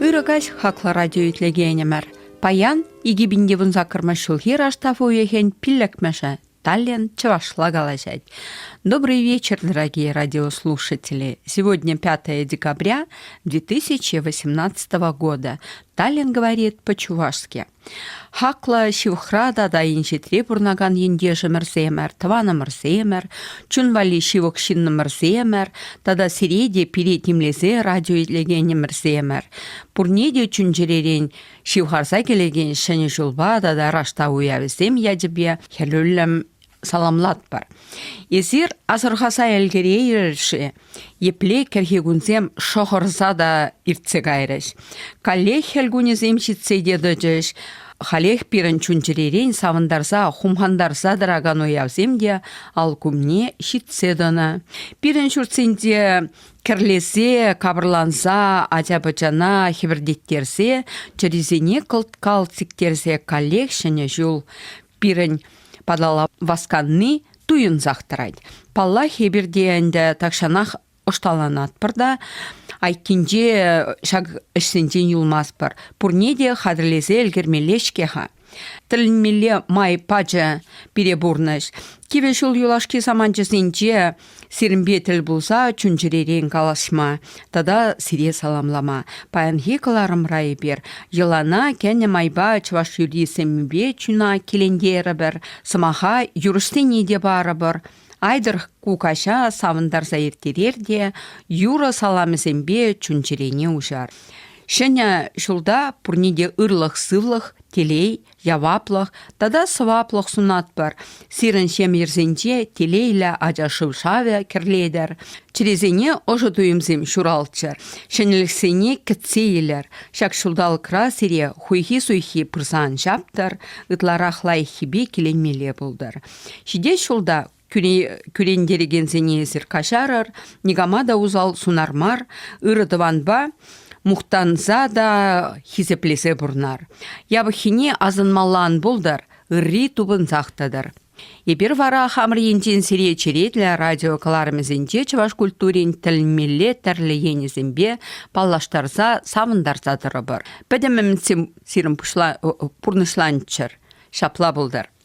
Ырӑ каҫ хаклӑ радио итлекенӗмӗр. Паян 2000 саккӑрмӗш ҫулхи раштав уйӑхӗн пиллӗкмӗшӗ Таллин чӑвашла калаҫать. Добрый вечер, дорогие радиослушатели. Сегодня 5 декабря 2018 года. Таллин говорит по-чувашски. Хаклӑ ҫывӑхра тата инҫетре пурӑнакан ентешӗмӗрсемӗр, тӑванӑмӑрсемӗр, чун валли ҫывӑх ҫыннӑмӑрсемӗр тата сире те пире тимлесе радио илекенӗмӗрсемӗр, пурне те чун-чӗререн ҫывхарса килекен Ҫӗнӗ ҫулпа тата раштав уявӗсем ячӗпе хӗрӳллӗм саламлатпӑр. Эсир асӑрхаса ӗлкӗрейрӗр-ши? Епле кӗрхи кунсем шӑхӑрса та иртсе кайрӗҫ. Каллех хӗл кунӗсем ҫитсе те тӑчӗҫ. Халех пирӗн чун-чӗререн савӑнтарса, хумхантарса тӑракан уявсем те алкумне ҫитсе тӑнӑ. Пирӗн ҫуртсенче кӗрлесе, капӑрланса, ача-пӑчана хӗпӗртеттерсе, чӗрисене кӑлт-калт сиктерсе каллех ҫӗнӗ ҫул пирӗн паталла васканни туйӑнсах тӑрать. Паллах, эпир те ӗнтӗ тахҫанах ӑшталанатпӑр та айккинче ҫак ӗҫсенчен юлмастпӑр. Пурне те хатӗрлесе ӗлкӗрмелле-ҫке-ха. Тӗлӗнмелле май пачӗ пире пурнӑҫ. Кивӗ ҫул юлашки саманчӗсенче Сирӗнпе тӗл пулса чун-чӗререн калаҫма тата сире саламлама паянхи кӑларӑмра эпир йӑлана кӗнӗ майпа чӑваш юрри-семмипе чуна килентерӗпӗр, сӑмаха юрӑҫсене те парӑпӑр. Айтӑр кукаҫа савӑнтарса ирттерер те юрӑ саламӗсемпе чун-чӗрене уҫар. Ҫӗнӗ ҫулта пурне те ырлӑх-сывлӑх, телей, яваплӑх тата сӑваплӑх сунатпӑр. Сирӗн ҫемйӗрсенче телейлӗ ача шывшавӗ кӗрлетӗр, чӗресене ӑшӑ туйӑмсем ҫуралччӑр, ҫӗнӗлӗхсене кӗтсе илӗр. Ҫак ҫулталӑкра сире хуйхи-суйхи пырсан ҫаптӑр, ытларах лайӑххипе киленмелле пултӑр. Ҫитес ҫулта кӳрентерекенсене эсир каҫарӑр, никама та усал сунар мар, ырӑ тӑванпа мухтанса та хисеплесе пурнар. Япӑххине асӑнмалла ан пултӑр, ырри тупӑнсах тӑтӑр. Эпир вара хамӑр енчен сире черетлӗ радио кӑларӑмӗсенче чӑваш культурин тӗлмелле тӗрлӗ енӗсемпе паллаштарса, савӑнтарса тӑрӑпӑр. Пӗтӗм ӗмӗт сирӗн пурнӑҫланччӑр. Ҫапла пултӑр.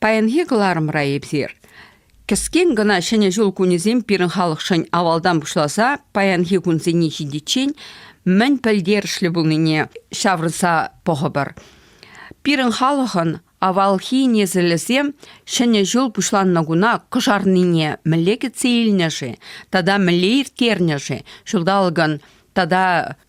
Паянхи кӑларӑмра эпир кӗскен кӑна Ҫӗнӗ ҫул кунӗсем пирӗн халӑхшӑн авалтан пуҫласа паянхи кунсене ҫитиччен мӗн пӗлтерӗшлӗ пулнине ҫавӑрса пӑхӑпӑр. Пирӗн халӑхӑн авалхи несӗлӗсем Ҫӗнӗ ҫул пуҫланнӑ куна кӑшарнине мӗнле кӗтсе илнӗ-ши тата мӗнле ирттернӗ-ши? Ҫулталӑкӑн тата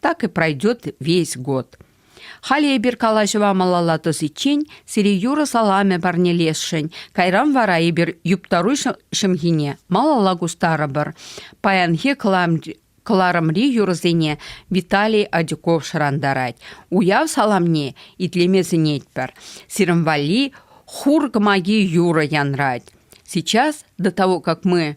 Так и пройдет весь год. Халӗ эпир калаҫӑва малалла тӑсиччен сире юрӑ саламӗ парнелесшӗн. Кайран вара эпир юптару ҫӑмхине малалла кустарӑпӑр. Паянхи кӑларӑмри юрӑсене Виталий Адюков шӑрантарать. Уяв саламне итлеме сӗнетпӗр. Сирӗн валли хур кӑмаки юрӑ янрать. Сейчас, до того, как мы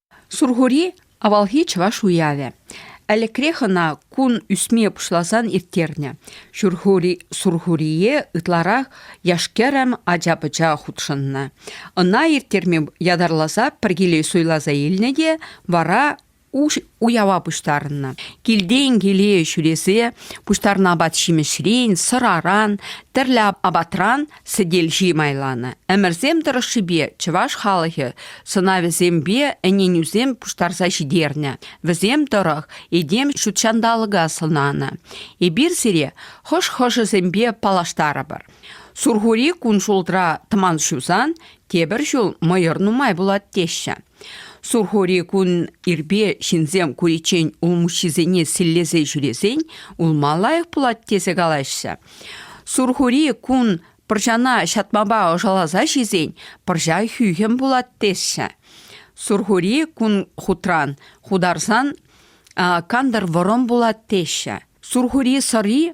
Сурхури авалхи чӑваш уявӗ. Ӗлӗкрех ӑна кун ӳсме пуҫласан ирттернӗ. Сурхури, Сурхурие ытларах яш-кӗрӗм ача-пӑча хутшӑннӑ. Ӑна ирттерме ятарласа пӗр киле суйласа илнӗ те вара уява пуҫтарӑннӑ. Килтен киле ҫӳресе пуҫтарнӑ апат-ҫимӗҫрен, сӑраран, тӗрлӗ апатран Сӗтел ҫи майланӑ. Ӗмӗрсем тӑрӑшшипе чӑваш халӑхӗ сӑнавӗсемпе ӗненӳсем пуҫтарса ҫитернӗ. Вӗсем тӑрӑх этем ҫутҫанталӑка сӑнанӑ. Эпир сире хӑш хӑшӗсемпе паллаштарӑпӑр. Сурхури кун ҫултра тӑман ҫусан, тепӗр ҫул мӑйӑр нумай пулать теҫҫӗ. Сурхури кун ирпе ҫынсем куриччен улмуҫҫисене силлесе ҫӳресен улма лайӑх пулать тесе калаҫҫӗ. Сурхури кун пӑрҫана ҫатмапа ӑшаласа ҫисен пӑрҫа хӳхӗм пулать теҫҫӗ. Сурхури кун хутран хутарсан кантӑр вӑрӑм пулать теҫҫӗ. Сурхури сӑри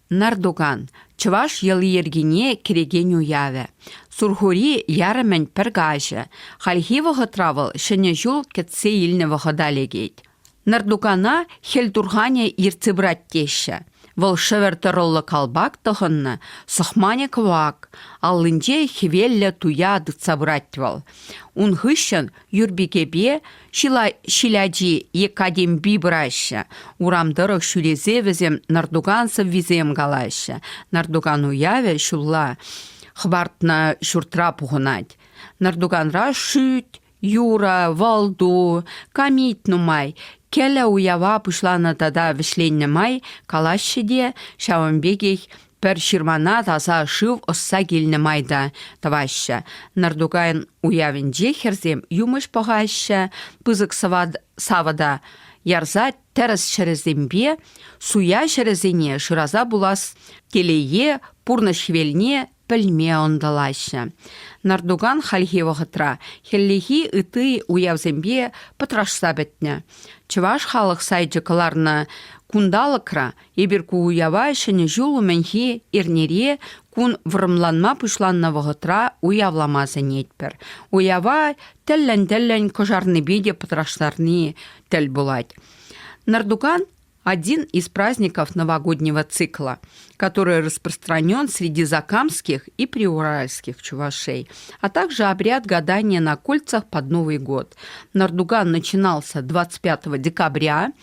Нардоган, чӑваш йӑли-йӗркине кӗрекен уявӗ. Сурхури ярӑмӗн пӗр каҫӗ. Хальхи вӑхӑтра вӑл Ҫӗнӗ ҫул кӗтсе илнӗ вӑхӑта лекет. Нардогана хӗл турханӗ ертсе пырать теҫҫӗ. Вӑл шӗвӗр тӑрӑллӑ калпак тӑхӑннӑ, сӑхманӗ кӑвак, аллинче хӗвеллӗ туя тытса пырать вӑл. Ун хыҫҫӑн Юрпикепе ҫил ачи Екатим Би пыраҫҫӗ. Урам тӑрӑх ҫӳресе вӗсем нӑртукан сӑввисем калаҫҫӗ. Нӑртукан уявӗ ҫулла хӑпартнӑ ҫуртра пухӑнать. Нӑртуканра шӳт, юрӑ, вӑл-ту, камит нумай. Кӗлӗ уява пуҫланӑ тата вӗҫленнӗ май калаҫҫӗ те ҫавӑн пекех Пӗр ҫырмана таса шыв ӑсса килнӗ май та тӑваҫҫӗ. Нӑртукайӑн уявӗнче хӗрсем юмӑҫ пӑхаҫҫӗ, пысӑк савӑта ярса тӗрӗс ҫӗрӗсемпе суя ҫӗрӗсене шыраса пулас телее пурнӑҫ хӗвелне пӗлме ӑнтӑлаҫҫӗ. Нӑртукан хальхи вӑхӑтра хӗллехи ытти уявсемпе пӑтрашса пӗтнӗ. Чӑваш халӑх сайчӗ кӑларнӑ кунталӑкра Эпир ку уява Ҫӗнӗ ҫул умӗнхи эрнере кун вӑрӑмланма пуҫланнӑ вӑхӑтра уявлама сӗнетпӗр. Уява тӗллӗн-тӗллӗн кӑшарнипе те пӑтраштарни тӗл пулать. Нардуган один из праздников новогоднего цикла, который распространен среди закамских и приуральских чувашей, а также обряд гадания на кольцах под Новый год. Нардуган начинался 25 декабря –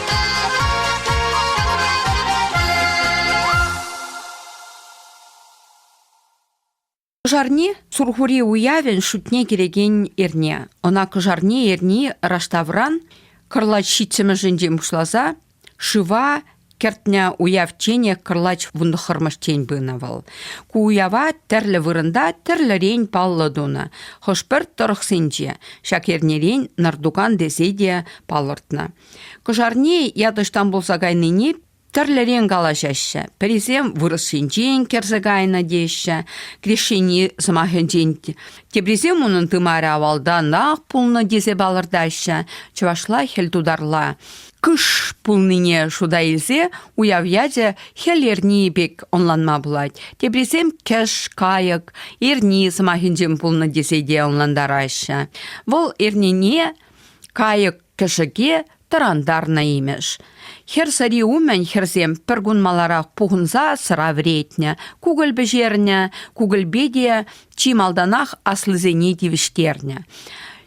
Кӑшарни – Сурхури уявӗн шутне килекен эрне. Ӑна кӑшарни эрни раштавран кӑрлач ҫитсӗмӗшӗнчен пуҫласа шыва кӗртнӗ уяв тенӗ кӑрлач вунтӑххӑрмӗштен пынӑ вӑл. Ку уява тӗрлӗ вырӑнта тӗрлӗрен паллӑ тунӑ. Хӑш-пӗр тӑрӑхсенче ҫак эрнерен Нартукан тесе те палӑртнӑ. Кӑшарне ят-ӑҫтан пулса кайнине тӗрлӗрен калаҫаҫҫӗ. Пӗрисем вырӑс енчен кӗрсе кайнӑ теҫҫӗ, крещени сӑмахӗнчен, теприсем унӑн тымарӗ авалтанах пулнӑ тесе палӑртаҫҫӗ. Чӑвашла хӗл тутарла кыш пулнине шута илсе уяв ячӗ хӗл эрни пек ӑнланма пулать. Теприсем кӗш, кайӑк, эрни сӑмахӗнчен пулнӑ тесе те ӑнлантараҫҫӗ. Вӑл эрнене кайӑк Кӗшӗке тӑрантарнӑ имӗш. Хӗр сӑри умӗн хӗрсем пӗркун маларах пухӑнса сӑра вӗретнӗ, кукӑль пӗҫернӗ, кукӑльпе те чи малтанах аслисене тивӗҫтернӗ.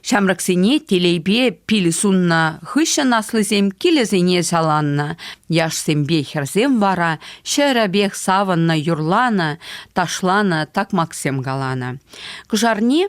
Ҫамрӑксене телейпе пил суннӑ хыҫҫӑн аслисем килӗсене саланнӑ, яшсемпе хӗрсем вара ҫӗрӗпех савӑннӑ, юрланӑ, ташланӑ, такмаксем каланӑ. Кӑшарни